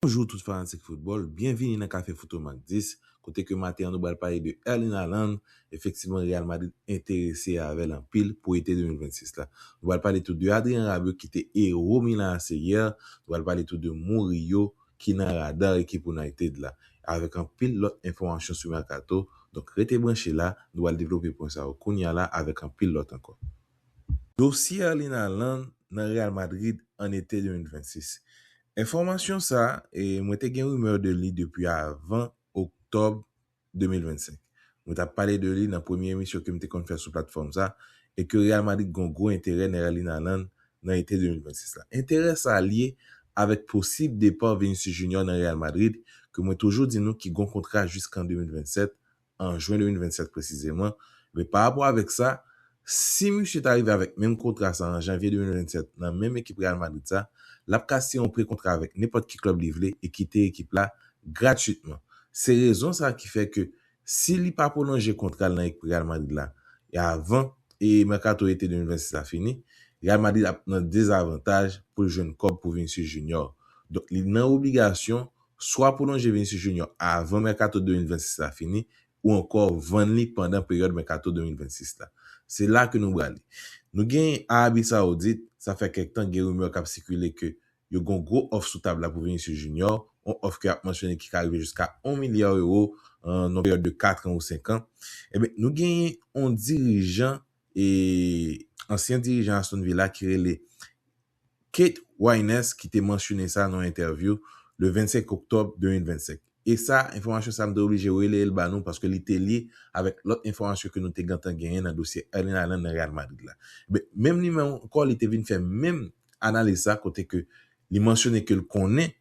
Bonjou tout fanatik foutbòl, byenvini nan kafe fout Omak 10, kote ke maten an nou bal pale de Erling Haaland, efektivman Real Madrid enterese avèl anpil pou ete 2026 la. Nou bal pale tou de Adrien Rabiot ki te ero Milan AC yè, nou bal pale tou de Murillo ki nan radar ekip United la, avèk anpil lòt enfòmasyon sou mercato, donk rete branche la, nou bal devlope pwen sa yo kounya la avèk anpil lòt ankò. Dosye Erling Haaland nan Real Madrid an ete 2026. Enfòmasyon sa, mwen te gen rumeur de li depi avan Oktòb 2025. Mwen tap pale de li nan premye emisyon kem te konn fè sou platfòm sa e ke Real Madrid gon gwo enterè nan Erling Haaland nan ete 2026 la. Enterè sa lye avèk posib depa Vinicius Junior nan Real Madrid ke mwen toujou di nou ki gon kontra jiskan 2027 an jwen 2027 presizeman, men pa rapò avèk sa, si misye ta rive avèk menm kontra sa an janvye 2027 nan menm ekip Real Madrid sa, l ap ka siyen yon pre-kontra avèk nenpòt ki klèb li vle e kite ekip la gratwitman. Se rezon sa ki fè ke si li pa pwolonje kontra l nan ekip Real Madrid la avan mèkato ete 2026 la fini, Real Madrid ap nan dezavantaj pou l jwenn kòb pou Vinicius Junior. Donk li nan obligasyon swa pwolonje Vinicius Junior avan mèkato 2026 la fini ou ankò vann li pandan peryòd mèkato 2026 la. Se la ke nou brale. Nou gen Arabi Saoudit, sa fè kèk tan gen rimè kap sikile ke yo gen yon gwo òf sou tab la pou Vinicius Junior, yon òf ke ap mansyone ki ka rive jiska 1 milya euro an yon peryòd de 4 an ou 5 an. Enben, nou gen yon dirijan, ansyen dirijan Aston Villa ki rele. Kate Winans ki te mansyone sa nan yon entèvyou le 25 oktòb 2025. E sa, enfòmasyon sa m te oblije releye l ba nou paske li te lye avèk lòt enfòmasyon ke nou te gentan genyen nan dosye Erling Haaland nan Real Madrid la. Enben, menm li menm ankò li te vin fè menm analiz sa kote ke li mansyone ke l konnen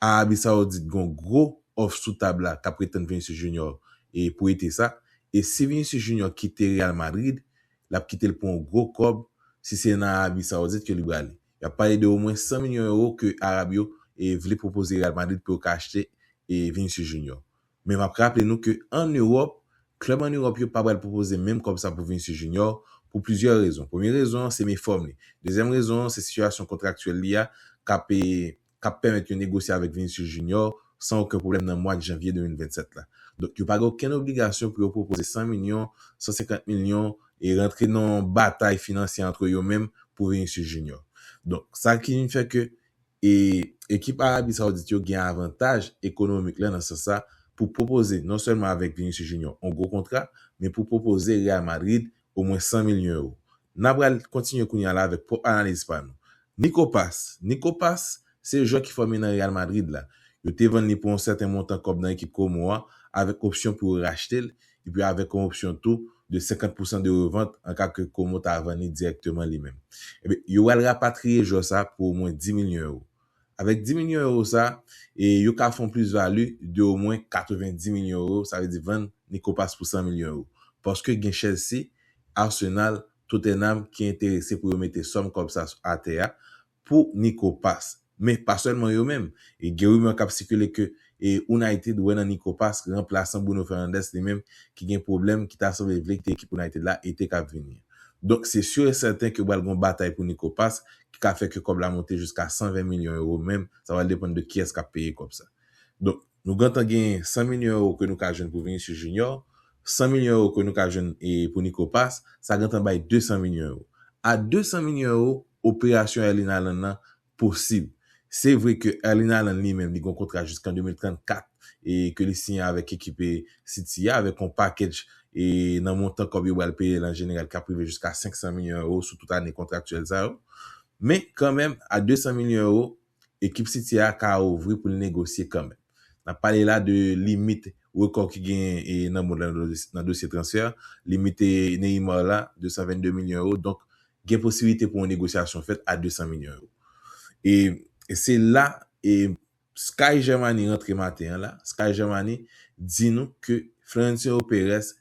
Arabi Saoudit gen yon gwo òf sou tab la kap reten Vinicius Junior pou ete sa, e si Vinicius Junior kite Real Madrid, lap kite l pou yon gwo kòb, si se nan Arabi Saoudit ke li prale. Yap pale de omwen 100 milyon ewo ke Arab yo vle pwopoze Real Madrid pou yo ka achte Vinicius Junior. Men map raple nou ke an Ewòp, klèb an Ewòp yo pa pral pwopoze menm kòb sa pou Vinicius Junior pou plizyè rezon. Premye rezon an se mefòm li. Dezyèm rezon an se sitiyasyon kontraktyèl li a kap k ap pèmèt yo negosye avèk Vinicius Junior san oken pwoblèm nan mwad janvye 2027 la. Donk yo pa gen okenn obligasyon pou yo pwopoze 100 milyon, 150 milyon e rantre nan yon batay finansye antre yo menm pou Vinicius Junior. Donk sa ki vin fè ke e ekip Arabi Saoudit yo gen avantaj ekonomik la nan sans sa pou pwopoze non sèlman avèk Vinicius Junior yon gwo kontra men pou pwopoze Real Madrid omwen 100 milyon ewo. N apral al kontinye kounye a la avèk pwòp analiz pa nou. Nico Pass Nico Pass se jwè ki fòme nan Real Madrid la. Yo te vann li pou yon sèten montan kòb nan ekip Como a avèk opsyon pou yo rachte l epi avèk yon opsyon tou de 50 pousan de revant an ka ke Como ta vann li dirèkteman li menm. Enben, yo pral rapatriye jwè sa pou omwen 10 milyon ewo. Avèk 10 milyon ewo sa, yo ka fè yon plis vali de omwen 90 milyon ewo, sa vle di vann Nico Pass pou 100 milyon ewo. Paske gen Chelsea, Arsenal, Tottenham ki enterese pou yo mete sòm kòb sa atè a pou Nico Pass. Men pa sèlman yo menm, gen rimè k ap sikile ke e United wè nan Nico Pask ranplasan Bruno Fernandes li menm ki gen pwoblèm ki ta sanble vle kite ekip United la ete k ap vini an. Donk se sur et certain ke pral gen yon batay pou Nico Pask ki ka fè ke kòb la monte jiska 120 milyon euro men sa pral depann de kiyès k ap peye kòb sa. Donk nou gentan gen 100 milyon euro ke nou ka jwenn pou Vinicius Junior, 100 milyon euro ke nou ka jwenn pou Nico Pask, sa gentan bay 200 milyon euro. A 200 milyon euro, operasyon Erling Haaland lan posib. Se vre ke Erling Haaland li menm li gen yon kontra jiskan 2034 e ke li siyen avèk ekip City a avèk yon package e nan montan kòb yo bal peye l an jeneral kap rive jiska 500 milyon euro sou tout ane kontraktyèl sa yo. Men kanmenm a 200 milyon euro ekip City a ka ouvri pou l negosye kanmenm. N ap pale la de limit rekò ki genyen nan mond la nan dosye transfè. Limit Neymar la, 222 milyon ewo. Donk, gen posibilite pou yon negosyasyon fèt a 200 milyon ewo. E se la Sky Germany rantre maten an la. Sky Germany di nou ke Florentino Perez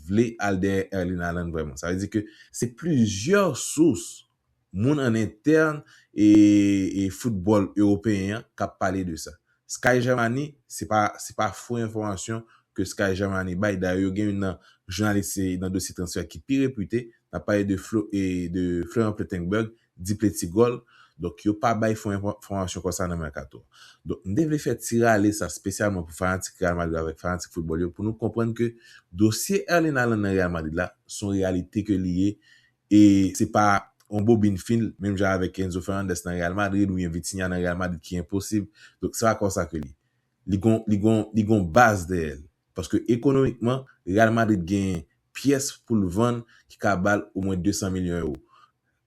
vle al dèyè Erling Haaland vrèman. Sa vle di ke se plizyè sous Moun an entèn e foutbòl ewopeyen an k ap pale de sa. Sky Germany, se pa se pa fo enfòmasyon ke Sky Germany bay, dayè yo gen youn nan jounalis se nan dosye transfè ki pi repite, n ap pale de Flo e de Florent Plettenberg, di Plettigòl, donk yo pa bay fo enfò fòmasyon konsa nan mèkato a. Donk m te vle fè ti rale sa spesyalman pou fanatik Real Madrid avèk fanatik foutbòl yo pou nou konprann ke dosye Erling Haaland nan Real Madrid la s on reyalite ke li ye e se pa yon bobin fil menm jan avèk Enzo Fernandez nan Real Madrid oubyen Vitinha nan Real Madrid ki enposib. Donk se pa konsa ke li. Li gon li gon li gon baz dèyè l. Paske ekonomikman Real Madrid genyen pyès pou l vann ki ka ba l omwen 200 milyon ewo.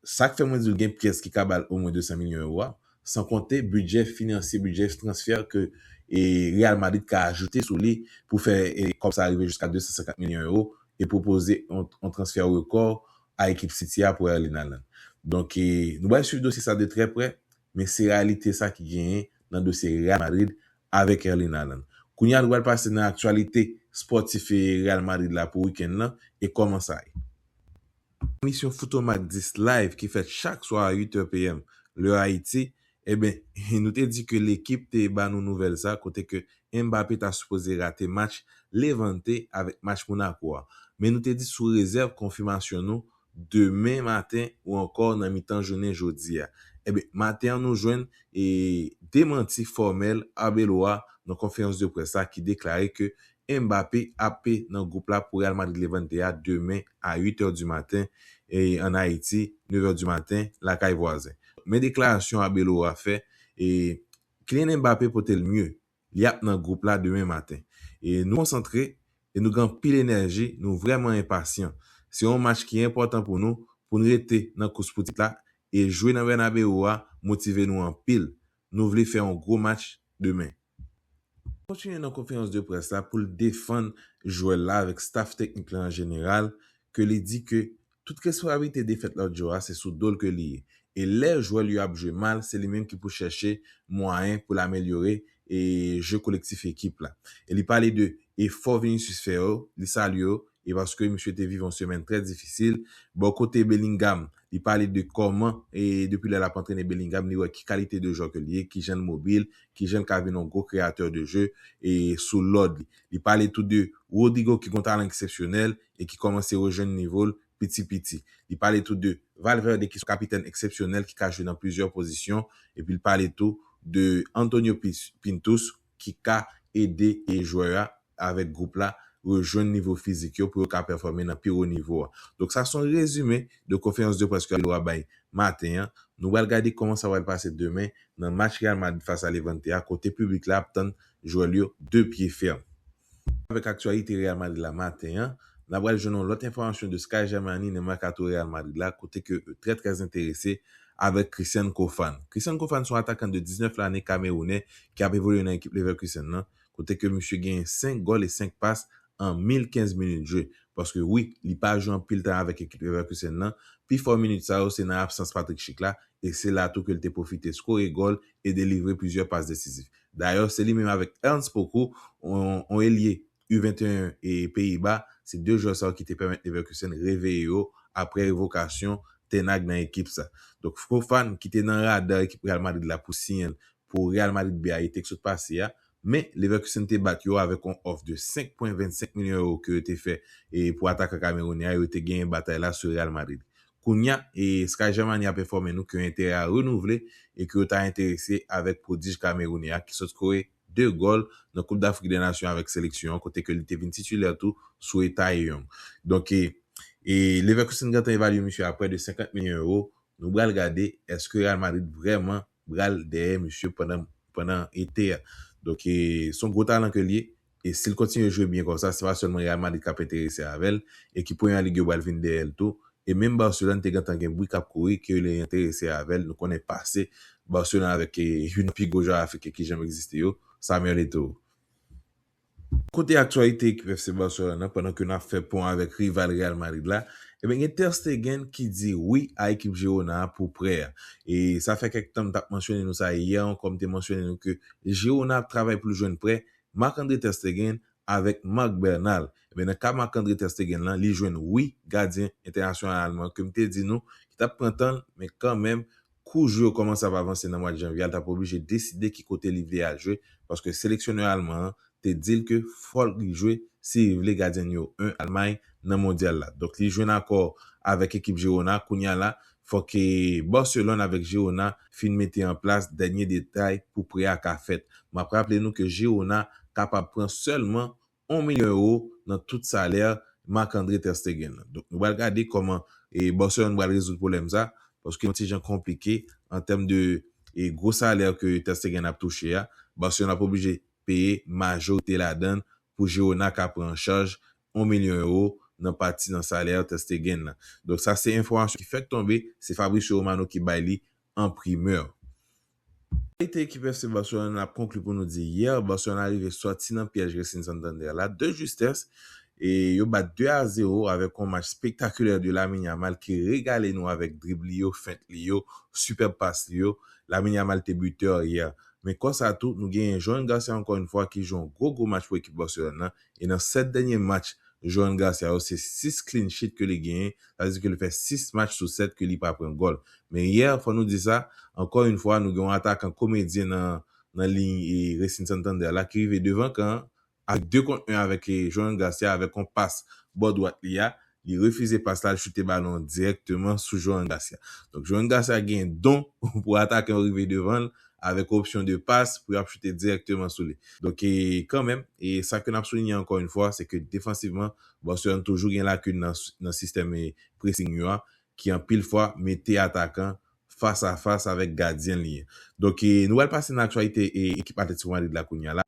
Sa k fè mwen di w gen pyès ki ka ba l omwen 200 milyon ewo a, san konte bidjè finansye, bidjè transfè ke Real Madrid ka ajoute sou li pou fè kòb sa rive jiska 250 milyon ewo e pwopoze yon transfè rekò a ekip City a pou Erling Haaland. Donk nou pral swiv dosye sa de trè prè, men se reyalite sa ki genyen nan dosye Real Madrid avèk Erling Haaland. Kounye a nou pral pase nan aktyalite spòtif Real Madrid la pou wikenn nan e kòman sa ye. Emisyon Foutomak 10 Live ki fèt chak swa a 8 è PM, lè Ayiti, eben, nou te di ke lekip te ba nou nouvèl sa kote ke Mbappé ta sipoze rate match Levante avèk match Monaco a. Men nou te di sou rezèv konfimasyon nou demen maten ou ankò nan mitan jounen jodi a. Eben, maten an nou jwenn e demanti fòmèl Arbeloa nan konferans de près la ki deklare ke Mbappé ape nan gwoup la pou Real Madrid Levante a demen a 8 è di maten an Ayiti, 9 è di maten lakay vwazen. Men deklarasyon Arbeloa fè, Kylian Mbappé pote l mye, li ap nan gwoup la demen maten. Nou konsantre e nou gen anpil enèji, nou vrèman enpasyan. Se yon match ki enpòtan pou nou pou n rete nan kous pou tit la e jwe nan Bernabeu a motive nou anpil, nou vle fè yon gwo match demen. Kontinye nan konferans de près la pou l defann jwè la avèk staf teknik la an jeneral ke li di ke tout responsablite defèt lòt jou a se sou do l ke li ye e lè jwè l yo ap jwe mal se li menm ki pou chèche mwayen pou l amelyore e jeu kolektif ekip la e li pale de efò Vinicius fè yo li salye yo E paske misye te viv yon semèn trè difisil bò kote Bellingham, li pale de kòman e depi lè lap antrene Bellingham li wè ki kalite de jwè ke li ye, kijan l mobil, kijan l ka vin yon gwo kreyatè de jeu e sou lòd li. Li pale tou de Rodrygo ki gon talan eksepsyonèl e ki kòmanse rejwenn nivo l piti piti. Li pale tou de Valverde ki son kapitèn eksepsyonèl ki ka jwe nan plizyè pozisyon epi l pale tou de Antonio Pintus, ki ka ede e jwè a avèk gwoup la rejwenn nivo fizik yo pou yo ka pèfòme nan pi wo nivo a. Donk sa son rezime de konferans de près ke Loa bay maten an. Nou pral gade kòman sa pral pase demen nan match Real Madrid fas a Levante a kote piblik la ap tann jwè l yo de pye fèm. Avèk aktyalite Real Madrid la maten an, na pral jwenn yon lòt enfòmasyon de Sky Germany nan mèkato Real Madrid la kote ke yo trè trè enterese avèk Christian Kofan. Christian Kofan se yon atakan de 19 lane kamerounè ki ap evolye nan ekip Leverkusen lan kote ke misye genyen 5 gòl e 5 pas an 1015 minit jwe paske wi li pa jwe anpil tan avèk ekip Leverkusen lan pifò minit sa yo se nan absans Patrick Schick la e se la tou ke li te pwofite skore gòl e delivre plizyè pas desizif. Dayè, se li menm avèk Ernst Poku, yon elye U 21 Peyiba, se 2 jwè sa yo ki te pèmèt Leverkusen reveye yo aprè revokasyon Ten Hag nan ekip sa. Donk Fofan ki te nan rada ekip Real Madrid la pou siyen l pou Real Madrid B a ete k sot pase a, men Leverkusen te bat yo avèk yon òf de 5 pwen 25 milyon ewo ke yo te fè pou atakan Kamerounè a, yo te genyen batay la sou Real Madrid. Kounya, Sky Germany ape enfòme nou ke yon enterè a renouvle e ke yo ta enterese avèk prodij Kamerounè a ki sot kore 2 gòl nan Koup Dafrik dè Nasyon avèk seleksyon an kote ke li te vin titulè tou sou e Taeyong. Donk, Leverkusen gentan evalye misye a prè de 50 milyon euro. Nou bral gade eske Real Madrid vrèman bral dèyè misye pandan pandan ete a donk e son gwo talan ke l ye e si l kontinye jwe byen konsa se pa sèlman Real Madrid k ap enterese avè l e ki premyè lig yo bal vin dèyè l tou e menm Barcelone te gentan gen bri k ap kouri ke yo enterese avè l nou konnen pase Barcelone avèk youn nan pi gwo jwè afriken ki janm egziste yo Samuel Eto'o. Kote aktyalite ekip FC Barcelone nan pandan ke nap fè pon avèk rival Real Madrid la, ebyen gen Ter Stegen ki di wi a ekip Girona a pou prè a. E sa fè kèk tan m tap mansyone nou sa e yè ankò m te mansyone nou ke Girona ap travay pou l jwenn prè Marc-Andre Ter Stegen avèk Marc Bernal. Ebyen nan ka Marc-Andre Ter Stegen lan li jwenn wi gadyen entènasyonal alman ke m te di nou ki tap pran tan l men kanmenm kou jwe yo kòmanse ap avanse nan mwad janvye a l t ap oblije deside ki kote li vle al jwe paske seleksyonè alman an te di l ke fò li jwe si li vle gadyen nimewo 1 Almay nan mondyal la donk li jwenn akò avèk ekip Girona kounye a la fò ke Barcelone avèk Girona fin mete an plas dènye detay pou prè a ka fèt m ap raple nou ke Girona kapab pran sèlman 1 milyon ewo nan tout salè Marc-André ter Stegen lan. Donk nou pral gade kòman Barcelone pral rezoud pwoblèm sa, paske yon ti jan konplike an tèm de gwo salè ke ter Stegen ap touche a, Barcelone ap oblije peye majorite ladann pou Girona ka pran an chaj 1 milyon ewo nan pati nan salè ter Stegen lan. Donk sa se enfòmasyon ki fèk tonbe, se Fabrizio Romano ki bay li an primeur. Kalite ekip FC Barcelone n ap konkli pou nou di yè Barcelona rive sòti nan pyèj Racing Santander la de justès e yo bat 2 a 0 avèk yon match spektakulè de Lamine Yamal ki regale nou avèk drib li yo, fent li yo, sipèb pas li yo. Lamine Yamal te butè yè men konsa tou nou genyen Johan Garcia ankò yon fwa ki jwe yon gwo gwo match pou ekip Barcelone nan. e nan 7 dènye match Johan Garcia yo se 6 clean sheet ke li genyen, sa vle di ke li fè 6 match sou 7 ke li pa pran gòl. Men yè, fò nou di sa, ankò yn fwa nou gen yon atakan komedyen nan nan liy Racing Santander la ki rive devan kan an avèk 2 kont 1 avèk Johan Garcia avèk yon pas bò dwat li a Li refize pas la, l choute balon an dirèkteman sou Joan Garcia. Donk Joan Garcia gen don pou atakan yo rive devan l avèk opsyon de pas pou y ap choute dirèkteman sou li. Donk e kanmenm, e sa ke n ap soulinye ankò yon fwa, se ke defansivman, Barcelone toujou gen lakin nan nan sistèm e pressing yo a, ki anpil fwa mete atakan fas a fas avèk gadyen li an. Donk e nou pral pase nan aktyalite e ekip Atlético Madrid la kounya la.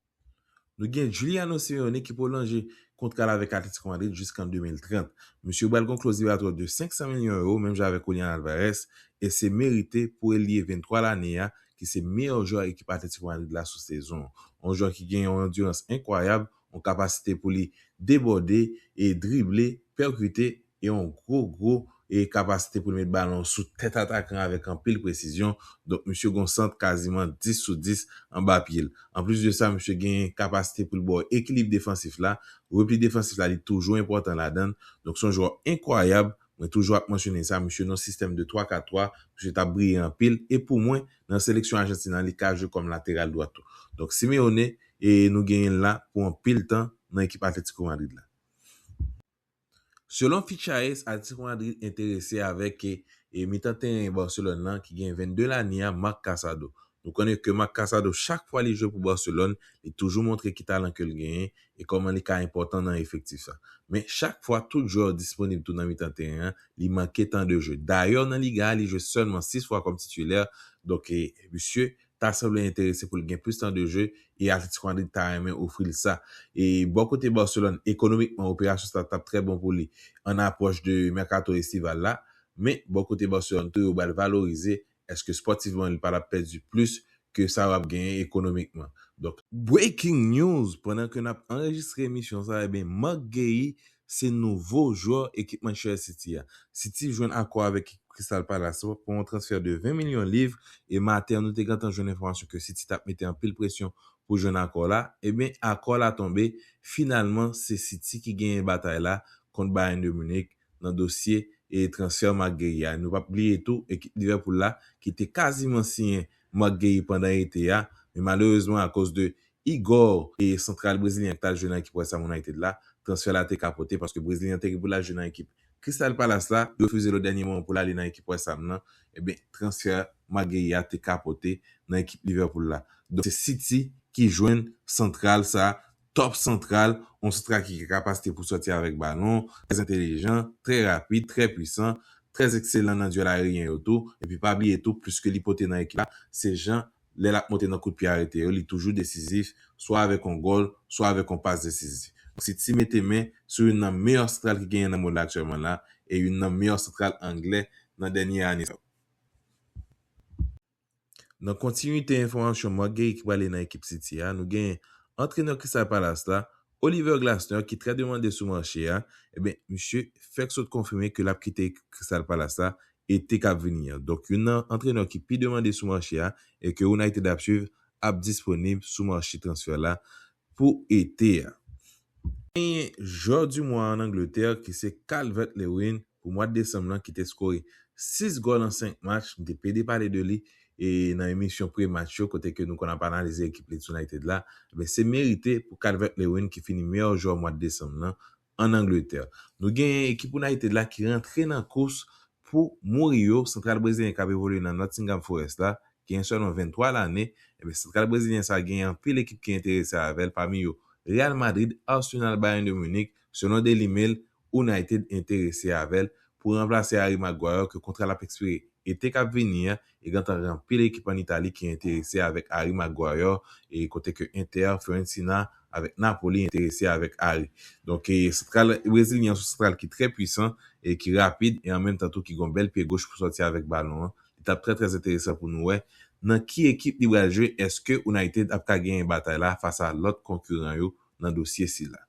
Nou gen Giuliano Simeone ki pwolonje kontra l avèk Atletico Madrid jiskan 2030. Misye pral gen yon kloz libratwè de 500 milyon ewo menm jan avèk Julian Alvarez e se merite pou elye 23 lane a ki se meyè jwè ekip Atletico Madrid la sou sezon an. Yon jwè ki gen yon andirans enkwayab, yon kapasite pou li debòde, drible, pèkite, yon gwo gwo e kapasite pou l met balon sou tèt atakan avèk anpil presizyon, donk misye gen yon sant kaziman 10 sou 10 anba pye l. Anplis de sa, misye gen kapasite pou l ba w ekilib defansif la, repli defansif la li toujou enpòtan ladan l, donk se yon jwè enkwayab, mwen toujou ap mansyone sa, misye nan yon sistèm de 3 4 3, misye t ap briye anpil, e pou mwen, nan seleksyon Ajantin an li ka jwe kòm lateral dwat tou. Donk Simeone, e nou genyen l la pou anpil tan nan ekip Atlético Madrid la. Selon Fichaes, Atletico Madrid enterese avèk mitan teren Barcelone lan ki gen 22 lane a Marc Casado. Nou konnen ke Marc Casado chak fwa li jwe pou Barcelone li toujou montre ki talan ke l genyen e kòman li ka enpòtan nan efektif sa. Men chak fwa tout jwè yo disponib tou nan mitan teren an li manke tan de jwe. Dayè nan Liga a li jwe sèlman 6 fwa kòm titilè donk misye ta sanble enterese pou l gen plis tan de jwe e Atletico Madrid ta renmen ofri l sa. E bò kote Barcelone, ekonomikman operasyon sa tap trè bon pou li an apwòch de mèkato estival la, men bò kote Barcelone tou yo bal valorize eske spòtivman li pa tap pèdi plis ke sa yo ap genyen ekonomikman. Donk. Breaking news, pandan ke nap anrejistre emisyon sa, ebyen Marc Guehi Se nouvo jwè ekip Manchester City a. City jwenn akò avèk ekip Crystal Palace la pou yon transfè de 20 milyon liv e maten an nou te gentan jwenn enfòmasyon ke City tap mete anpil presyon pou jwenn akò la. Ebyen akò la tonbe finalman se City ki genyen batay la kont Bayern de Munich nan dosye e transfè Marc Guehi a. Nou pap bliye tou ekip Liverpool la ki te kaziman siyen Marc Guehi pandan ete a men malerezman akoz de Igor, santral brezilyen an ki t al jwe nan ekip West Ham United la, transfè la te ka pote paske brezilyen an te gen pou l al jwe nan ekip Crystal Palace la, yo refize l o dènye moman pou l ale nan ekip West Ham nan, enben transfè Maguire a te ka pote nan ekip Liverpool la. Donk se City ki jwenn santral sa, top santral, yon santral ki gen kapasite pou sòti avèk balon, trè entelijan, trè rapid, trè pwisan, trè ekselan nan dwèl ayeryen yo tou, epi pa bliye tou plis ke li pote nan ekip la, se jan lè l ap monte nan kout pye arete yo li toujou desizif swa avèk yon gòl swa avèk yon pas desizif. Donk City mete men sou youn nan meyè santral ki genyen nan mond la aktyèlman la e youn nan meyè santral anglè nan dènye ane sa yo. Nan kontinite enfòmasyon Marc Guehi ki prale nan ekip City a nou genyen antrenè Crystal Palace la, Oliver Glasner ki trè demande sou mache a, enben misye fèk sot konfime ke l ap kite ekip Crystal Palace la ete kap vini an. Donk youn nan antrenè ki pi demande sou mache a e ke United ap swiv ap disponib sou mache transfè la pou ete a. Genyen Jwè du Mwa an Angletè ki se Calvert-Lewin pou mwad desanm lan ki te skore 6 gòl an 5 match, m te pede pale de li e nan emisyon pre match yo kote ke nou konn ap analize ekip Leeds United la, ebyen se merite pou Calvert-Lewin ki fini meyè jwè mwad desanm lan Ann Angletè, nou genyen ekip United la ki rantre nan kous pou Murillo, santral brezilyen k ap evolye nan Nottingham Forest la, genyen sèlman 23 lane, ebyen santral brezilyen sa genyen anpil ekip ki enterese avè l pami yo Real Madrid, Arsenal, Bayern de Munich, selon Daily Mail, United enterese avè l pou ranplase Harry Maguire ke kontra l ap ekspire ete k ap vini an e gentan gen anpil ekip an Itali ki enterese avèk Harry Maguire e kote ke Inter, Fiorentina avèk Napoli enterese avèk Harry. Donk e santral brezilyen an se yon santral ki trè pwisan e ki rapid e an menm tan tou ki gen yon bèl pye goch pou sòti avèk balon an. Li tap trè trè enteresan pou nou wè nan ki ekip li bral jwe, eske United ap ka genyen batay la fas a lòt konkiran yo nan dosye sila.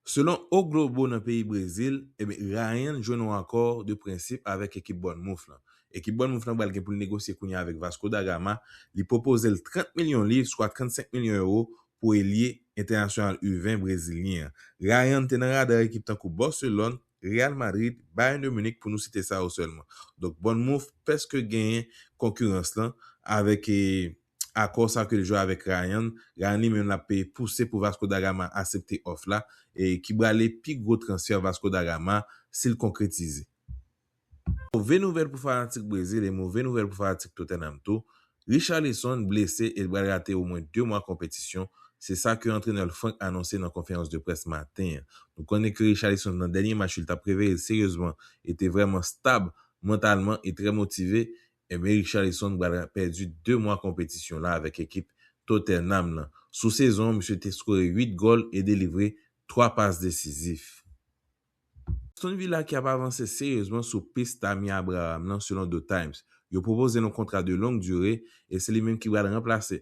Selon O Globo nan peyi Brezil, Rayan jwenn yon akò de prensip avèk ekip Bournemouth lan. Ekip Bournemouth lan pral gen pou l negosye kounye a avèk Vasco da Gama, li pwopoze l 30 milyon liv, swa 35 milyon ewo, pou elye entènasyonal U-20 brezilyen an. Rayan te nan rada ekip tankou Barcelone, Real Madrid, Bayern de Munich pou nou site sa yo sèlman. Donk Bournemouth pèske genyen konkirans lan avèk akò sa ke l jwe avèk Rayan, Rayan li menm l ap peye pouse pou Vasco da Gama asepte òf la, e ki brale pi gwo transfè Vasco da Gama si l konkretize. Move nouvèl pou fanatik Brezil e move nouvèl pou fanatik Tottenham tou, Richarlison blese e l pral rate omwen 2 mwa konpetisyon, se sa ke antrenè l Franck anonse nan konferans de près maten an. Nou konnen ke Richarlison nan dènye match yo l t ap reveye l seryezman e te vrèman stab mantalman e trè motive Ebyen Richarlison pral pèdi 2 mwa konpetisyon la avèk ekip Tottenham lan. Sou sezon an misye te skore 8 gòl e delivre 3 pas desizif. Aston Villa ki ap avanse seryezman sou pis Tammy Abraham lan selon The Times. Yo pwopoze l yon kontra de long dure e se li menm ki pral ranplase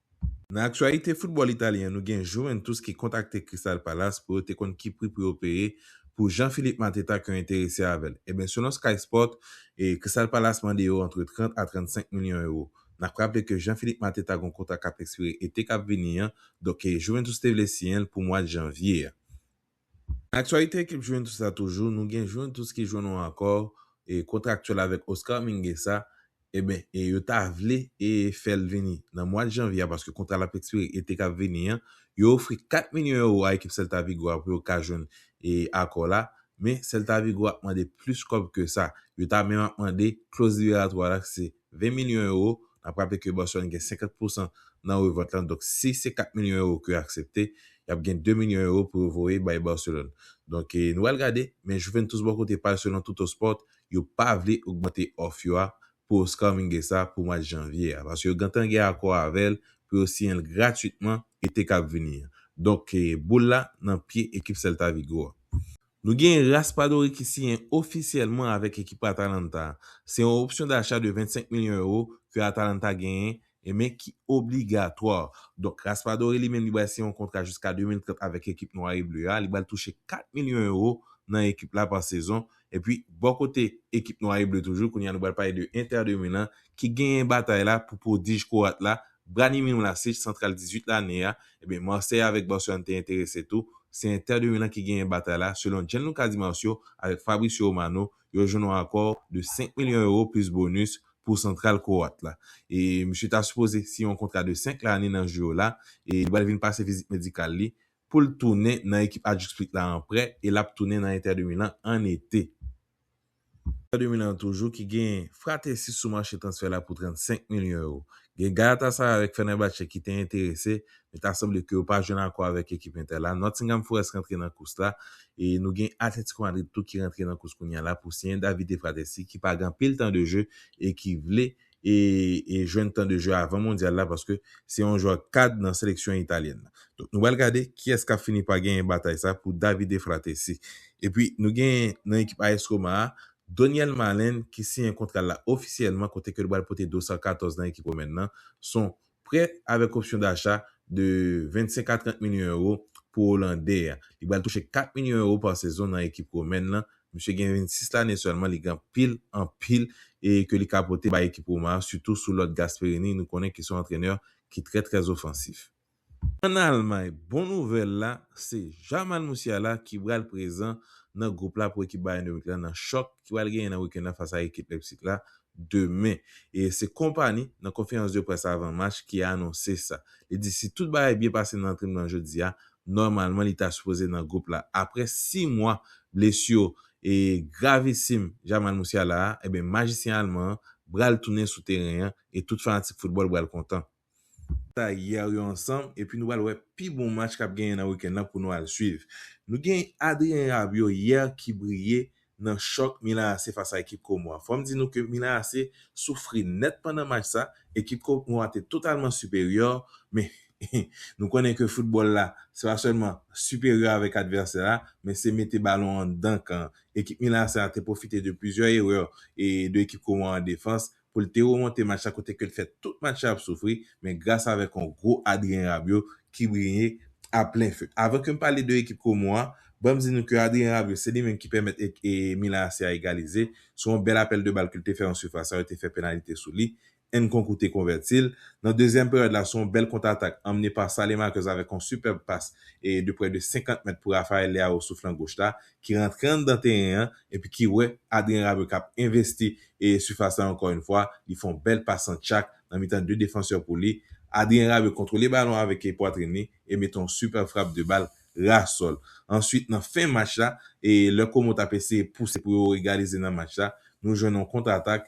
Nan aktyalite foutbòl italyen an nou gen Juventus ki kontakte Crystal Palace pou yo te konn ki pri pou yo peye pou Jean Philippe Mateta ke yo enterese avè l. Enben selon Sky Sport, Crystal Palace mande yo antre 30 a 35 milyon ewo. N ap raple ke Jean Philippe Mateta gon kontra k ap ekspire ete k ap vini an, donk Juventus te vle siyen l pou mwad janvye a. Aktyalite ekip Juventus la toujou, nou gen Juventus ki jwenn yon akò kontraktyèl avèk Oscar Mingueza, eben yo ta vle fè l vini nan mwad janvye a paske kontra l ap ekspire ete k ap vini an, yo ofri 4 milyon ewo a ekip Celta Vigo a pou yo ka jwenn akò la, men Celta Vigo ap mande plis kòb ke sa, yo ta menm ap mande kloz liberatwa la ki se 20 milyon ewo, n ap raple ke Boston gen 50 pousan nan revant lan, donk si se 4 milyon ewo ke yo aksepte, y ap gen 2 milyon ewo pou yo voye bay Barcelone. Donk nou pral gade, men Juventus bò kote pa l selon Tuttosport, yo pa vle ogmante òf yo a pou Oscar Mingueza pou mwa janvye a, paske yo gentan gen akò avè l pou yo siyen l gratwitman ete k ap vini an. Donk boul la nan pye ekip Celta Vigo a. Nou gen Raspadori ki siyen ofisyèlman avèk ekip Atalanta a. Se yon opsyon dacha de 25 milyon ewo ke Atalanta genyen e men ki obligatwa. Donk Raspadori li menm li bal siyen yon kontra jiska 2030 avèk ekip Nwa e Ble a. Li bal touche 4 milyon ewo nan ekip la pa sezon. Epi bò kote ekip Nwa e Ble toujou, kounye a nou bal pale de Inter de Milan ki genyen batay la pou pwodij kwoat la Branimir Mlasic, santral 18 lane a, ebyen Marseille avèk Barcelone te enterese tou, se Inter de Milan ki genyen batay la, selon Gianluca Di Marzio avèk Fabrizio Romano, yo jwenn yon akò de 5 milyon euro plis bonus pou santral kwoat la. E misye ta sipoze siyen yon kontra de 5 lane nan jou yo la, e li pral vin pase vizit medikal li pou l tounen nan ekip Ajuk Split la an prè e l ap tounen nan Inter de Milan an ete. Inter de Milan toujou ki gen Frattesi sou mache transfè la pou 35 milyon ewo. Gen Galatasaray avèk Fenerbahçe ki te enterese, men ta sanble ke yo pa jwenn akò avèk ekip Inter la. Nottingham Forest rantre nan kous la e nou gen Atletico Madrid tou ki rantre nan kous kounya la pou siyen Davide Frattesi ki pa gen anpil tan de je e ki vle e jwenn tan de jeu avan mondyal la paske se yon jwè kad nan seleksyon italyèn nan. Donk nou pral gade kiyès kap fini pa genyen batay sa pou Davide Frattesi. Epi nou genyen nan ekip AS Roma a Donyel Malen ki siyen kontra l la ofisyèlman kote ke l pral pote dosar 14 nan ekip Romèn nan. Son Prè avèk opsyon dacha de 25 a 30 milyon ewo pou Olandè a. Li pral touche 4 milyon ewo pa sezon nan ekip Womèn lan. Misye gen 26 lane sèlman, li gen anpil, anpil e ke li ka pote bay ekip Roma a, sitou sou lòd Gasperini nou konnen ki se yon antrenè ki trè trè ofansif. Ann Almay, bon nouvèl la, se Jamal Musiala ki pral prezan nan gwoup la pou ekip Bayern de Munich la nan chòk ki pral genyen nan wikenn nan fas a ekip Leipzig la demen. E se konpani nan konferans de près avan match ki anonse sa. Li di si tout bagay byen pase nan antrenman an jodi a, nòmalman li ta sipoze nan gwoup la. Aprè 6 mwa blesi e gravisim Jamal Musiala a, enben majisyen alman an bral tounen sou teren an e tout fanatik foutbòl bral kontan. Sa hier yo ansanm epi nou pral wè pi bon match kap genyen nan weekend lan pou nou al swiv. Nou gen Adrien Rabiot hier ki briye nan chòk Milan AC fas a ekip Como a. Fòm di nou ke Milan AC soufri nèt pandan match sa, ekip Como a te totalman siperyè men nou konnen ke football la se pa sèlman siperyè avèk advèsè a men se mete balon anndan kan. Ekip Milan AC a te pwofite de plizyè erè de ekip Como a an defans pou l te remonte match la kote ke l fè tout match la ap soufri men gras avèk yon gwo Adrien Rabiot ki briye a plen feu. Avan ke m pale de ekip Como a, ban m di nou ke Adrien Rabiot se li menm ki pèmèt Milan AC a egalize sou yon bèl apèl de bal ke l te fè nan sifas la, yo te fè penalite sou li, Nkunku te konvèti l nan dezyèm peryòd la sou yon bèl kontratak anmene pa Saelemaekers avèk yon sipèb pas de prè de 50 mèt pou Raphaël Leao sou flan goch la ki rantre anndan teren an epi ki wè Adrien Rabiot kap envesti sifas la ankò yn fwa, li fè yon bèl pas an tchak nan mitan 2 defansè pou li, Adrien Rabiot kontwole balon avèk pwatrin li e mete yon sipèb frap de bal ras sòl. Answit nan fen match la, lè Como tap eseye pouse pou yo egalize nan match la, nou jwenn yon kontratak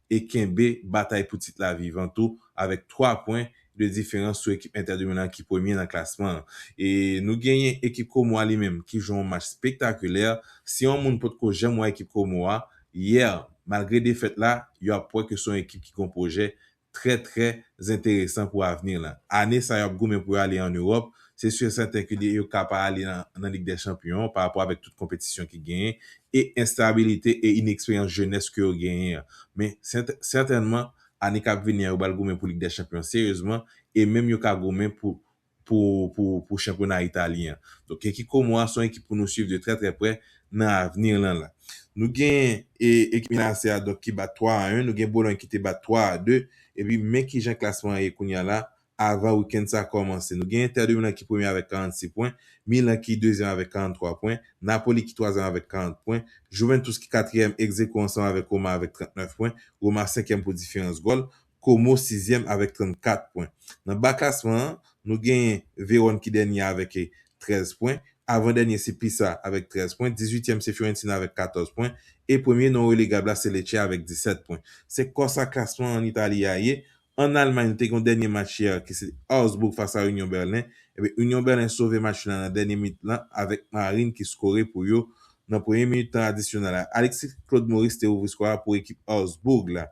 e kenbe batay pou tit la vivan tou avèk 3 pwen de diferans sou ekip Inter de Milan ki premye nan klasman an. E nou genyen ekip Como a li menm ki jwe yon match spektakulè. Si yon moun potko janm wè ekip Como a, yè, malgre defèt la, yo ap wè ke se yon ekip ki gen yon pwojè trè trè enteresan pou avni lan. Ane sa yo ap goumen pou yo ale an Ewòp, Se su e sèten ke li yo ka pa ale nan Lig dè Chanpyon pa rapò avèk tout konpetisyon ki genyen e enstabilite e ineksperyans jenès ke yo genyen an. Men, sètènman, ane k ap vini an yo pral goumen pou Lig dè Chanpyon an seryezman e menm yo ka goumen pou pou chanpyona italyen an. Donk ekip Como a se yon ekip pou nou swiv de trè trè prè nan avni lan la. Nou gen ekip Milan AC a donk ki bat 3 a 1, nou gen Bologne ki te bat 3 a 2 epi men kijan klasman an ye kounya la avan wikenn sa kòmanse. Nou gen Inter de Milan ki premye avèk 46 pwen, Milan ki dezyèm avèk 43 pwen, Napoli ki twazyèm avèk 40 pwen, Juventus ki katriyèm egzekwo ansanm avèk Roma avèk 39 pwen, Roma senkyèm pou diferans gòl, Como sizyèm avèk 34 pwen. Nan ba klasman an, nou genyen Vérone ki dènye a avèk 13 pwen, avan dènye se Pisa avèk 13 pwen, dizuityèm se Fiorentina avèk 14 pwen, e premye non relegab la se Lecce avèk 17 pwen. Se konsa klasman an Itali a ye, An Almay nou te gen yon dènye match yè ki se Augsburg fas a Union Berlin, ebyen Union Berlin sove match lan nan dènye minit lan avèk Marin ki skore pou yo nan premye minit tan adisyonal la. Alexis Claude Maurice te ouvri skò a pou ekip Augsburg la.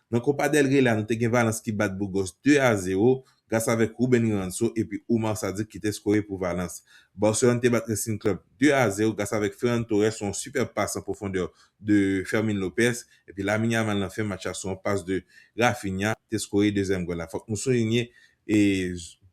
Nan Copa del Rey la nou te gen Valence ki bat Burgos 2 a 0 gras avèk Ruben Ranso epi Oumar Sadiq ki te skore pou Valence. Barcelone te bat Racing Club 2 a 0 gras avèk Ferran Torres sou yon sipèb pas an pwofondè de Fermin Lopez Epi Lamine Yamal nan fen match la sou yon pas de Raphinha te skore dezyèm gòl la. Fòk nou soulinye e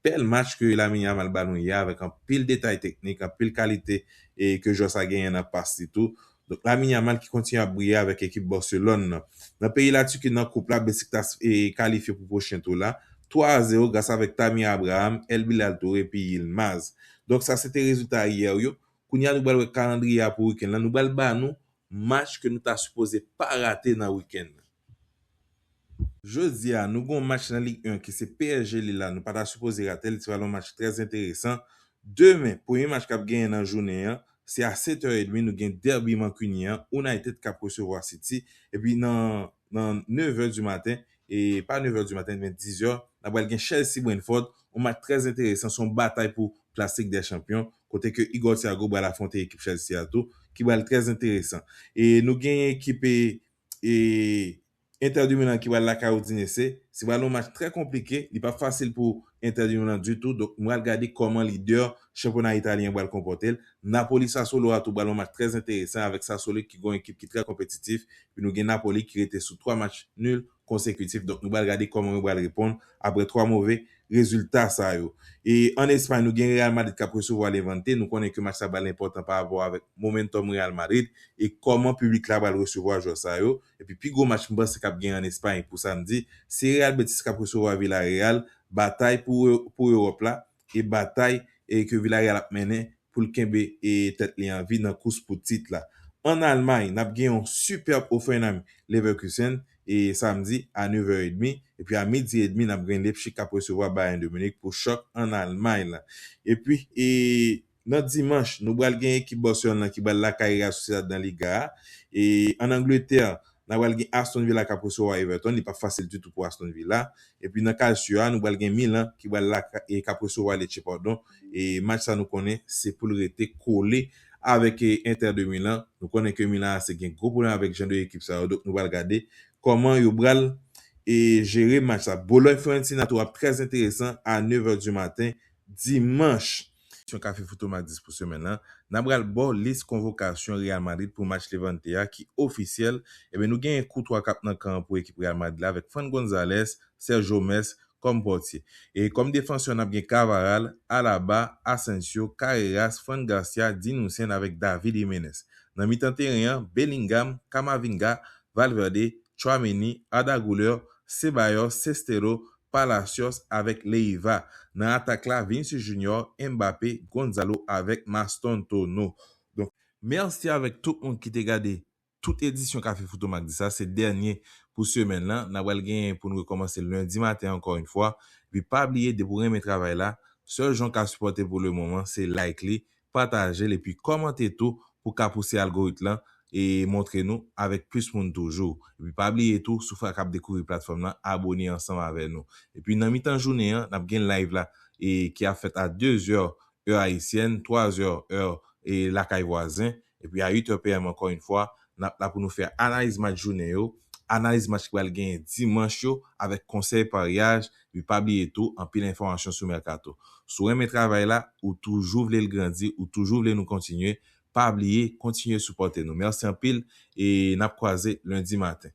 bèl match ke Lamine Yamal ba nou yè avèk anpil detay teknik, anpil kalite e ke jwè sa genyen nan pas li tou. Donk Lamine Yamal ki kontinye ap briye avèk ekip Barcelone nan. Nan peyi Latiki nan koup la Besiktas e kalifye pou pwochen tou la 3 a 0 gras avèk Tamir Abraham, El Bilal Toure epi Yilmaz. Donk sa se te rezilta yè yo. Kounye a nou pral wè kalandriye a pou wikenn lan, nou pral ba nou match ke nou ta sipoze pa rate nan wikenn lan. Jodi a nou gen yon match nan Ligue 1 ki se psg Lille la nou pa ta sipoze rate l, se pral yon match trè enteresan. Demen, premye match kap genyen nan jounen an, se a 7 heures et demie nou gen derby mankuniyen an, United kap resevwa City, epi nan nan 9 è di maten, e pa 9 è di maten men 10 è, nan pral gen Chelsea Brentford, yon match trè enteresan, se yon batay pou plas Lig dè Chanpyon, kote ke Igor Thiago pral afwonte ekip Chelsea a tou, ki pral trè enteresan. E nou genyen ekip e e Inter de Milan ki pral lakay Udinese, se pral yon match trè konplike, li pap fasil pou Inter de Milan ditou, donk m pral gade kòman lidè chanpyona italyen an pral konpòte l. Napoli-Sassuolo a tou pral yon match trè enteresan avèk Sassuolo ki gen yon ekip ki trè konpetitif epi nou gen Napoli ki rete sou 3 match nul konsekitif donk nou pral gade kòman yo pral reponn aprè 3 move rezilta sa yo. E ann Espay nou gen Real Madrid k ap resevwa Levante, nou konnen ke match sa pral enpòtan parapò avèk momentum Real Madrid e kòman piblik la pral resevwa jwè sa yo. Epi pi gwo match m panse kap gen an Espay pou samdi, se Real Betis kap resevwa Villarreal, batay pou pou Ewòp la e batay e ke Villarreal ap mennen pou l kenbe e tèt li an vi nan kous pou tit la. An Almay nap gen yon sipèb Hoffenheim Leverkusen e samdi a 9 è edmi epi a midi edmi nap gen Leipzig kap resevwa Bayern de Munich pou chòk an Almay la. Epi e Nan dimanch, nou bral gen ekip Boston lan ki bral lakay Real Sociedad nan Liga a. E an Angletè, na bral gen Aston Villa kap resevwa Everton, li pap fasil ditou pou Aston Villa. Epi nan Calcio a, nou bral gen Milan ki bral lakay kap resevwa Lecce padon. E match sa nou konnen se poul rete kole avèk Inter de Milan. Nou konnen ke Milan AC gen gwo pwoblèm avèk jan de ekip sa yo donk nou bral gade kòman yo bral e jere match sa. Bologne Fiorentina tou ap trè enteresan a 9 è di maten dimanch. Seksyon Café Foto Madis pou semèn lan, nan pral baw lis konvokasyon Real Madrid pou match Levante a ki ofisyèl, ebyen nou genyen Courtois kap nan kan an pou ekip Real Madrid la avèk Fran Gonzalez, Sergio Mes kòm pòtye. E kòm defansè nap gen Cavaral, Alaba, Asensio, Carreras, Fran Garcia, Dean Huijsen avèk David Jimenez. Nan mitan teren an, Bellingham, Camavinga, Valverde, Tchouaméni, Arda Güler, Ceballos, Sestero, Palacios avèk Leyva. Nan atak la, Vinicius Junior, Mbappé, Gonzalo avèk Mastantono. Donk. Mèsi avèk tout moun ki te gade tout edisyon Kafe Foto Mag di sa. Se dènye pou semèn lan. N apral genyen pou n rekòmanse lendi maten ankò yn fwa. Epi pa bliye depi w renmen travay la, sèl jan w ka sipòte l pou lemoman se like li, patajel epi kòmante tou pou ka pouse algorit lan e montre nou avèk plis moun toujou epi pa bliye tou sou fwa kap dekouvri platfòm lan abone ansanm avè nou epi nan mitan jounen an nap gen live la e ki ap fèt a 2 zè è ayisyèn 3 zè è lakay vwazen epi a 8 è PM ankò yn fwa N ap la pou nou fè analiz match jounen yo, analiz match ki pral genyen dimanch yo avèk konsèy paryaj epi pa bliye tou anpil enfòmasyon sou mèkato. Si w renmen travay la, ou toujou vle l grandi, ou toujou vle nou kontinye, pa bliye kontinye sipòte nou. Mèsi anpil e n ap kwaze lendi maten.